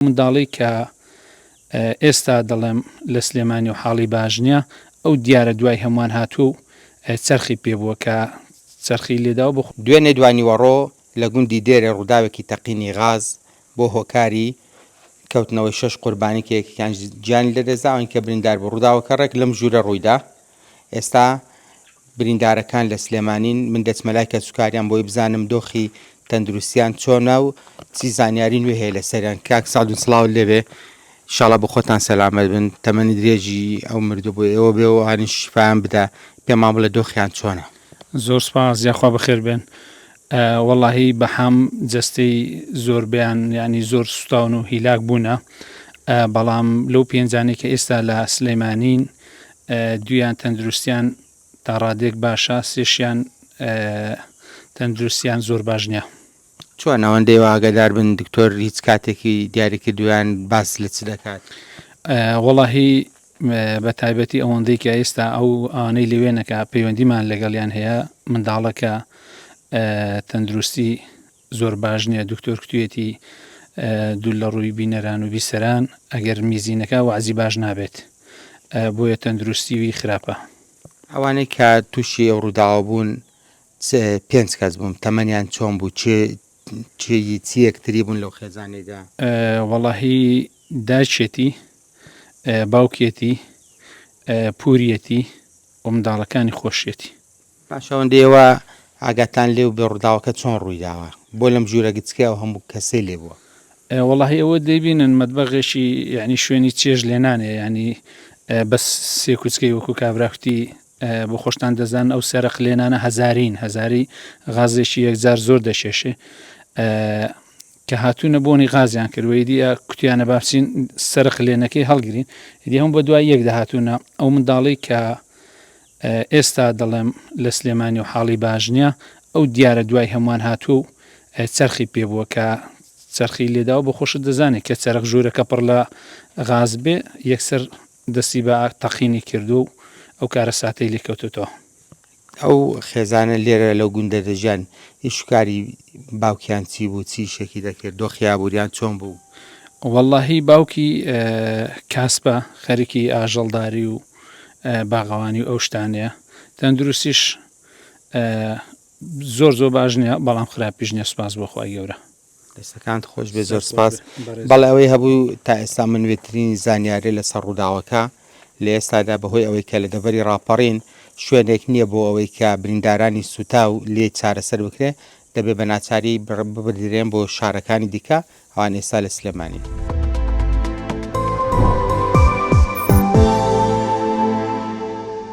ئەو منداڵەی کە ئێستا دەڵێم لە سلێمانی و حاڵی باش نیە ئەو دیارە دوای هەموان هاتوە و چەرخی پێ بوە کە چەرخی لێداوە بۆ دوێنێ دوانیوەڕۆ لە گوندی دێرێ ڕووداوێکی تەقینی غاز بووە هۆکاری کەوتنەوەی شەش قوربانی کە یەکێکیان گیانی لەدەستدا، ئەوەی کە برینداربوو. ڕووداوەکە ڕێک لەم ژوورە ڕوویدا، ئێستا بریندارەکان لە سلێمانین، من دەچمە لای کەسوکاریان بۆی بزانم دۆخی تەندروستیان چۆنە و چی زانیاری نوێ هەیە لەسەریان، کاک سەعدون سڵاوت لێ بێ انشاءاللە بۆ خۆتان سەلامەت بن تەمەنی درێژی ئەو مردوو بۆ ئێوە بێ و ئەوانیش شیفایان بدە، پێمان بڵێ دۆخیان چۆنە. زۆر سوپاس یاخوا بەخێر بێن. وەڵاهی بەحام جەستەی زۆربەیان یانی زۆر سوتاون و هیلاک بوونە بەڵام لەو پێنجانەی کە ئێستا لە سلێمانین دوویان تەندروستیان تا ڕادێک باشە سێشیان تەندروستیان زۆر باش نیە. چۆن ئەوەندەی واگەدار بن دکتۆر هیچ کاتێکی دیاری کردویان باس لە چ دەکات وەڵاهی بە تایبەتی ئەوەندەی کە ئێستا ئەو ئانەی لەوێنەکە پەیوەندیمان لەگەڵیان هەیە منداڵەکە تەندروستی زۆر باش نیە دکتۆر کتویەتی دوول لە ڕووی بینەران و بیسەران ئەگەر میزینەکە وەعزی باش نابێت بۆیە تەندروستی وی خراپە. ئەوانەی کە توشی ئەو ڕوداوە بوون پێنج کەس بوون تەمەنیان چۆن بوو چ چ چیەک تری بوون لەو خێزانەیدا؟ وەڵاهی داچێتی باوکێتی پوریەتی و منداڵەکانی خۆشیەتی. باش ئەوەندە ئێوە ئاگاتان لێ بوبێ ڕوداوەکە چۆن ڕوی داوە بۆ لەم ژورە گچکەی ئەو هەموو کەسەی لێ بوە. وەڵاهی ئەوە دەیبینن مەتبەغێکی یەعنی شوێنی چێژ لێنانێ یەعنی بەس سێ کوچکەی وەکو کابرا کوتی بۆ خۆشتان دەزانن ئەو سێرەق لێنانە هەزارین هەزاری غازێکی یەکجار زۆر دەکێشێ کە هاتوونە بۆنی غازیان کرد و ئیدی کوتیانە بابچین سەرق لێنەکەی هەڵگرین ئیدی هەم بە دوای یەک دەهاتوونە ئەو منداڵی کە ئێستا دەڵێم لە سلێمانی و حاڵی باش نیە ئەو دیارە دوای هەموان هاتوە و چەرخی پێ بوە کە چەرخی لێداوە بۆ خۆشت دەزانێ کە چەرخ ژورەکە پڕ لە غاز بێ یەکسەر دەستی بە تەقینی کردوە و ئەو کارەساتەی لێ کەوتۆتەوە. ئەو خێزانە لێرە لەو گوندە دەژیان ئیش و کاری باوکیان چی بوو چی ئیشێکی دەکرد دۆخی ئابوریان چۆن بوو؟ وەڵاهی باوکی کاسپە خەریکی ئاژەڵداری و باغەوانی و ئەو شتانەیە تەندروستیش زۆر زۆر باش نیە بەڵام خراپیش نیە سپاس بۆ خخوای گەورە دەستەکانت خۆش بێ زۆر سپاس بەڵێ ئەوەی هەبوو تا ئێستا من وێترین زانیارێ لەسەر ڕووداوەکە لە ئێستادا بەهۆی ئەوەی کە لە دەڤەری ڕاپەڕین شوێنێک نییە بۆ ئەوەی کە بریندارانی سوتا و لێ چارەسەر بکرێ دەبێ بە ناچاری ببدرێن بۆ شارەکانی دیکە ئەوان ئێستا لە سلێمانین.